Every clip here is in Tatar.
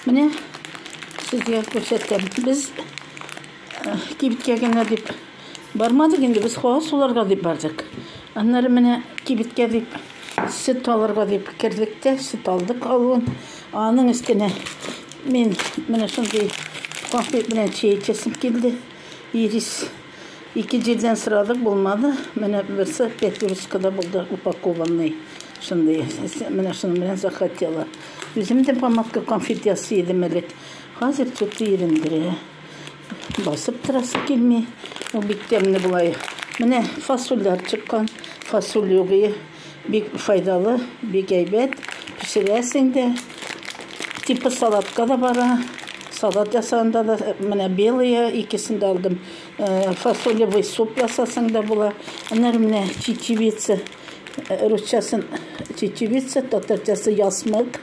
Менә сезгә күрсәтәм. Без э, кибеткә генә дип бармадык инде, без һава суларга дип бардык. Аннары менә кибеткә дип сөт алырга дип кердек тә, сөт алдык алуын. Аның өстенә мин менә шундый конфет белән чәй эчәсем килде. Ирис Ике җирдән сорадык, булмады. Менә берсе пятерочкада булды, упакованный. Шундый. Менә шуның белән захотела. Үзем дә помадка конфет ясый идем элек. Хәзер төте ирендерә. Басып торасы килми. Ул бик тәмле була. Менә фасольләр чыккан. Фасоль югые. Бик файдалы, бик әйбәт. Пешерәсең дә. Типа салатка да бара. Салат ясаганда да менә белые икесен дә алдым. Э, фасолевый суп ясасаң да була. Аннары менә чечевица. Э, русчасын чечевица, татарчасы ясмык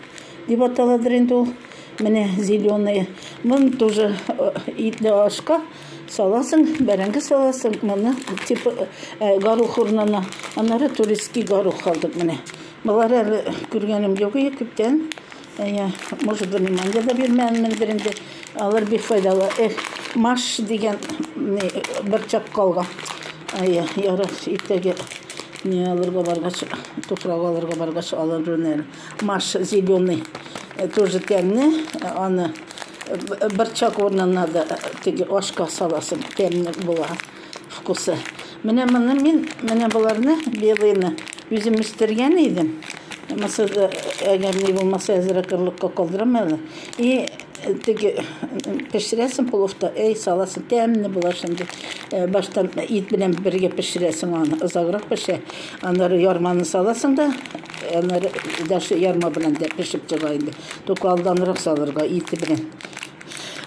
дип аталадыр инде ул. Менә зеленые. Моны тоже э, итле ашка Саласың, бәрәңге саласың, моны типа горох урынына. Аннары турецкий горох алдык менә. Болар әле күргәнем юк иде күптән. Я, может, внимание да бирмәгәнмендер инде. Алар бик файдалы. Эх, маш дигән бер чак калган. Ая, ярар, иртәгә не алырга баргач, туфрак алырга баргач алырмын әле. Маш зеленый тоже тәмле, аны борчак урынына да теге ашка саласың, тәмле була вкусы. Менә моны мин, менә боларны, белыйны үзем үстергән идем. Мисыр, әгәр ни булмаса, әзрәк орлыкка калдырам әле. И теге пешерәсең пловта, эй, саласың, тәмле була шундый. Баштан ит белән бергә пешерәсең аны, озаграк пешә. Аннары ярманы саласың да, аннары даже ярма белән дә пешеп чыга инде. Только алданрак салырга, ите белән.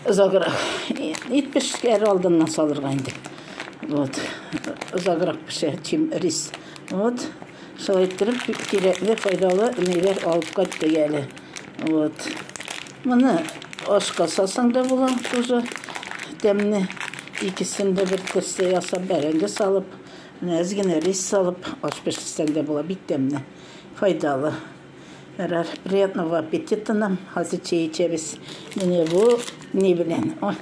Озаграк. Ит пешкәр алдыннан салырга инде. Вот. Озаграк пешә, чем рис. Вот. Шулай иттереп, кирәкле, файдалы миләр алып кайтты әле. Вот. Моны ашка салсаң да була, тоже тәмне. Икесен дә бер кесе ясап, бәрәңге салып, Менә әз генә рис салып, аш пешерсәң дә була, бик тәмле, файдалы. Ярар, приятного аппетита нам. Хәзер чәй эчәбез. Менә бу ни белән? Ой,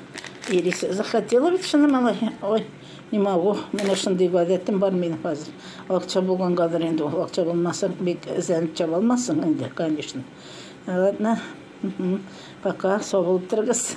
ирис захотела бит шуны малай. Ой, не могу. Менә шундый гадәтем бар минем хәзер. Акча булгангадыр инде ул. Акча булмаса, бик эзләнеп чаба алмассың инде, конечно. Ладно. Пока, сау булып торыгыз.